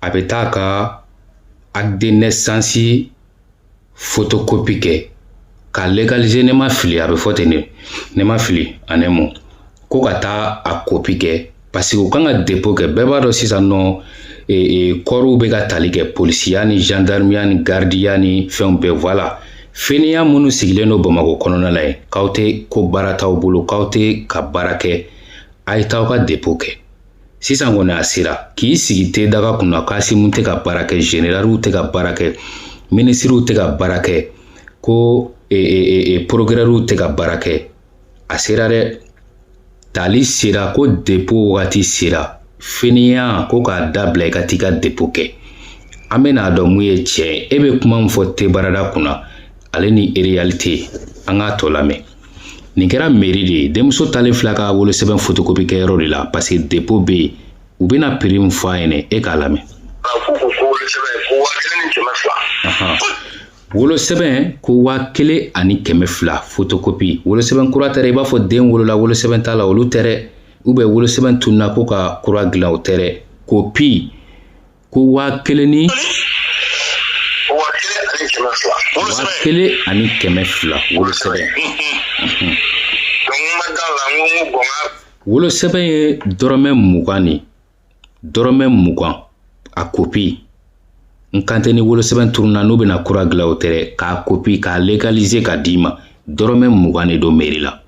a bɛ taa ka acte de naissance photocopie kɛ ka legalize ne ma fili a bɛ fɔ ten de ne ma fili en un mot ko ka taa a kopi kɛ parce que u kan ka depo kɛ bɛɛ b'a dɔn sisan nɔ e, e, kɔriw bɛ ka tali kɛ polisiya ni gendarmeya ni gardiya ni fɛnw bɛɛ voilà fainéant minnu sigilen don bamakɔ kɔnɔna la yen k'aw tɛ ko baara t'aw bolo k'aw tɛ ka baara kɛ a ye t'aw ka depo kɛ sisan kɔni a sera k'i sigi te daga kunna k'Asimu tɛ ka baara kɛ generaliw tɛ ka baara kɛ minisiriw tɛ ka baara kɛ ko e, e, e, e porokirɛriw tɛ ka baara kɛ a sera dɛ tali sera ko depo wagati sera fainéant ko ka dabila i ka t'i ka depo kɛ an bɛn'a dɔn mun ye tiɲɛ ye e bɛ kuma min fɔ te barada kunna ale ni ereyalite an k'a tɔ lamɛn nin kɛra meri de ye denmuso taalen filɛ ka wolosɛbɛn fotokopi kɛ yɔrɔ de la parce que depo bɛ yen u bɛna piri min fɔ a ɲɛnɛ e k'a lamɛn wolosɛbɛn ko waa kelen ani kɛmɛ fila fotokopi wolosɛbɛn kura tɛ dɛ i b'a fɔ den wolola wolosɛbɛn t'a la olu tɛ dɛ ou bien wolosɛbɛn tununna ko ka kura dilan o tɛ dɛ kopi ko waa kelen ni waa kelen ani kɛmɛ fila wolosɛbɛn wolosɛbɛn ye dɔrɔmɛ mugan ni dɔrɔmɛ mugan a kopi n kan tɛ ni wolosɛbɛn turunna n'u bɛna kura gilan o tɛ dɛ k'a kopi k'a legalize ka d'i ma dɔrɔmɛ mugan de don meri la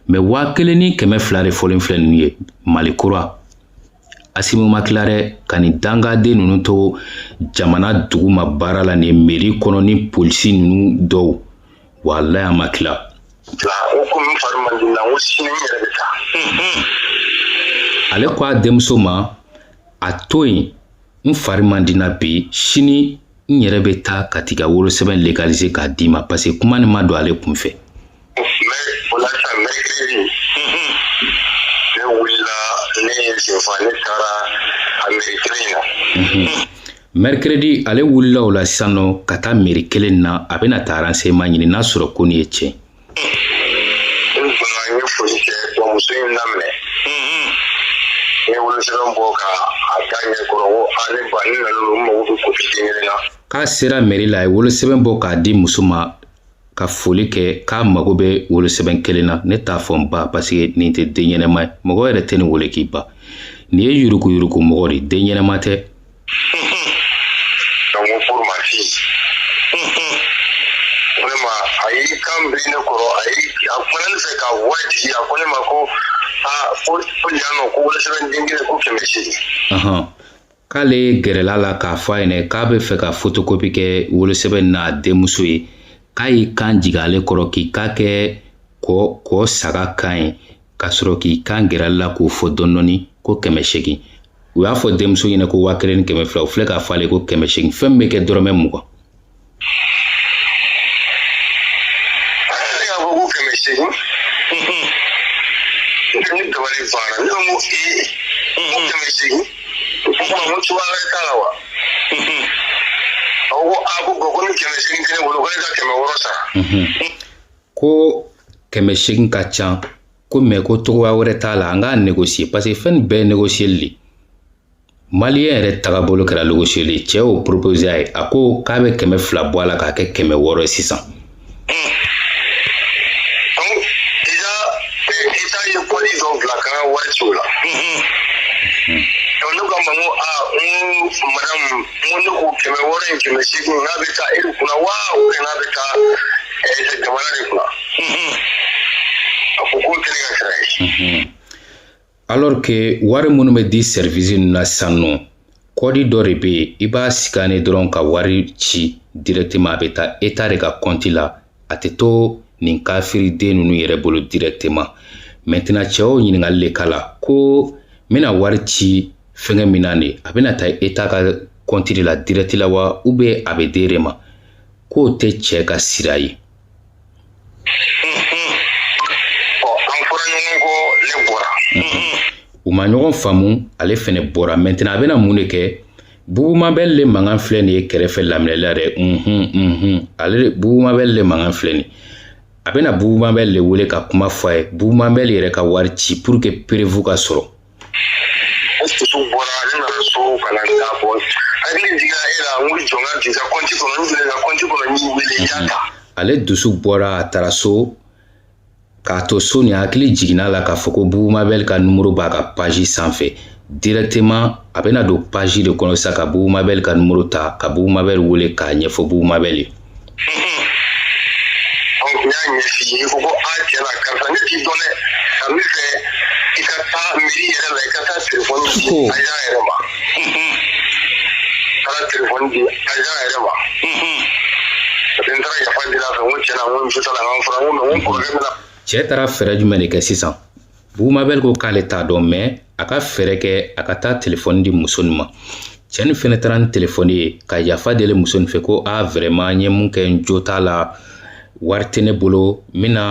mɛ waa kelen ni kɛmɛ fila de fɔlen filɛ nunu ye mali kura Asimi ma tila dɛ ka nin dangaden ninnu to jamana duguma baara la nin meri kɔnɔ ni polisi ninnu dɔw walayi a ma tila ale ko a denmuso ma a to yen n fari man di n na bi sini n yɛrɛ bɛ taa ka t'i ka wolosɛbɛn legalize k'a d'i ma parce que kuma nin ma don ale kun fɛ o la sisan mɛrikiredi ne wulila ne yɛrɛ sen fɛ ne taara a mɛri kelen na mɛrikiredi ale wulila o la sisan nɔ ka taa meri kelen na a bɛna taa aranseɲeman ɲini n'a sɔrɔ ko nin ye tiɲɛ n fana n ye foli kɛ muso in daminɛ n ye wolosɛbɛn bɔ k'a da a ɲɛ kɔrɔ ko a ne ba ne nana n mago bɛ kopi den kelen na k'a sera mɛri la a ye wolosɛbɛn bɔ k'a di muso ma ka foli kɛ k'a mago bɛ wolosɛbɛn kelen na ne t'a fɔ n ba paseke nin tɛ den ɲɛnama ye mɔgɔ yɛrɛ tɛ nin wele k'i ba nin ye yurukuyuruku mɔgɔ de ye den ɲɛnama tɛ donc ko pour ma fille vraiment a y'i kan biri ne kɔrɔ a y'i a kumana ne fɛ ka voix digi a ko ne ma ko aa ko ko yan nɔ ko wolosɛbɛn den kelen ko kɛmɛ seegin Ɔhɔn. k'ale gɛrɛla la k'a fɔ a ɲɛna k'a bɛ fɛ ka fotokopi kɛ wolosɛbɛn n'a denmuso ye k'a y'i kan jigin ale kɔrɔ k'i kan kɛ kɔ saga kan ye ka sɔrɔ k'i kan gɛrɛ la k'o fɔ dɔɔni ko kɛmɛ segin u y'a fɔ denmuso ɲɛna ko waa kelen ni kɛmɛ fila u filɛ k'a fɔ ale ko kɛmɛ segin fɛn bɛ kɛ dɔrɔmɛ mugan ko kɛmɛ seegin ka ca ko mɛ ko cogoya wɛrɛ t'a la an k'a negosiye paseke fɛn nin bɛɛ ye negosiyeli de maliyɛn yɛrɛ tagabolo kɛra negosiyeli ye cɛ y'o propose a ye a ko k'a bɛ kɛmɛ fila bɔ a la k'a kɛ kɛmɛ wɔɔrɔ ye sisan wari ci o la ne ko a ma n ko aa n ko madamu mun ne ko kɛmɛ wɔɔrɔ in kɛmɛ seegin n'a bɛ taa e de kunna wa o de n'a bɛ taa ɛɛ jamana de kunna a ko k'o tɛ ne ka sira ye. alors que wari minnu bɛ di service ninnu na sisan nɔ kɔdi dɔ de bɛ yen i b'a scanner dɔrɔn ka wari ci directement a bɛ taa etat de ka compte la a tɛ to nin kafiri den ninnu yɛrɛ bolo directement maintenant cɛ o ɲininkali le k'a la ko n bɛna wari ci fɛngɛ min na de a bɛna taa eta ka kɔnti de la dirɛti la wa ou bien a bɛ d'e de ma k'o tɛ cɛ ka sira ye u ma ɲɔgɔn faamu ale fɛnɛ bɔra maintenant a bɛna mun de kɛ Bubumabɛl le mankan filɛ nin ye kɛrɛfɛ laminɛla dɛ unhun unhun ale Bubumabɛl le mankan filɛ nin a bɛna Bubumabɛl le wele ka kuma fɔ a ye Bubumabɛl yɛrɛ ka wari ci pour que preuve ka sɔrɔ dusu bɔra ne nana so ka na da bɔ hakili jigira e la n ko jɔn ka bisa kɔnti kɔnɔ n filɛ ka kɔnti kɔnɔ n y'i wele i y'a ta ale dusu bɔra a taara so K'a to so ni hakili jiginna la k'a fɔ ko Bubumabɛl ka numero b'a ka page sanfɛ directement a bɛna don page de kɔnɔ sa ka Bubumabɛl ka numero ta ka Bubumabɛl wele k'a ɲɛfɔ Bubumabɛl ye. Donc n y'a ɲɛf'i ye i ko ko a cɛ la karisa ne t'i dɔn dɛ ka min fɛ i ka taa mairie yɛrɛ la i ka taa telefɔni di agent yɛrɛ ma. taara telefɔni di ajan yɛrɛ ma parce que n taara yafa deli a fɛ n ko tiɲɛ na n ko muso t'a la n k'an fura n ko mɛ n ko n kɔrɔkɛ bɛna cɛ taara fɛɛrɛ jumɛn de kɛ sisan bugumabɛli ko k'ale t'a dɔn mɛ a ka fɛɛrɛ kɛ a ka taa telefɔni di muso nin ma cɛ nin fɛnɛ taara ni telefɔni ye ka yafa deli muso nin fɛ ko a vrɛman n ye mun kɛ n jo t'a la wari tɛ ne bolo n bɛna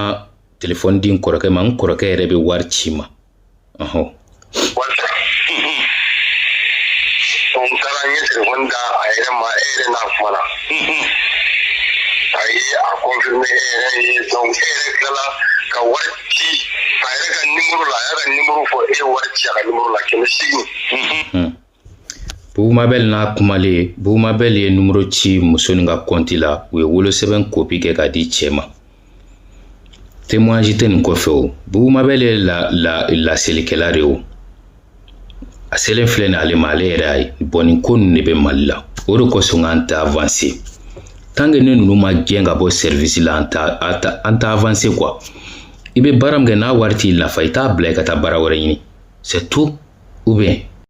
telefɔni di n kɔrɔkɛ ma n kɔrɔkɛ yɛrɛ bɛ wari ci ma o voilà n taara n ye telefɔni di a yɛrɛ ma e yɛrɛ n'a kumana a ye a kɔnfirime e yɛrɛ ye donc e yɛrɛ tilala ka wari ci a yɛrɛ ka nimoro la a y'a ka nimoro fɔ e ye wari ci a ka nimoro la kɛmɛ seegin Bugumabɛl n'a kumalen Bugumabɛl ye numero ci muso nin ka kɔnti la u ye wolosɛbɛn kopi kɛ k'a di cɛ ma témoignage tɛ nin kɔfɛ o Bugumabɛl ye la, la, laselikɛla de o a selen filɛ nin ale ma ale yɛrɛ y'a ye bon nin ko ninnu de bɛ Mali la o de kosɔn an tɛ avanse tant que ni ninnu ma gɛn ka bɔ service la an tɛ an tɛ avanse quoi i bɛ baara min kɛ n'a wari t'i nafa i t'a bila i ka taa baara wɛrɛ ɲini c'est tout ou bien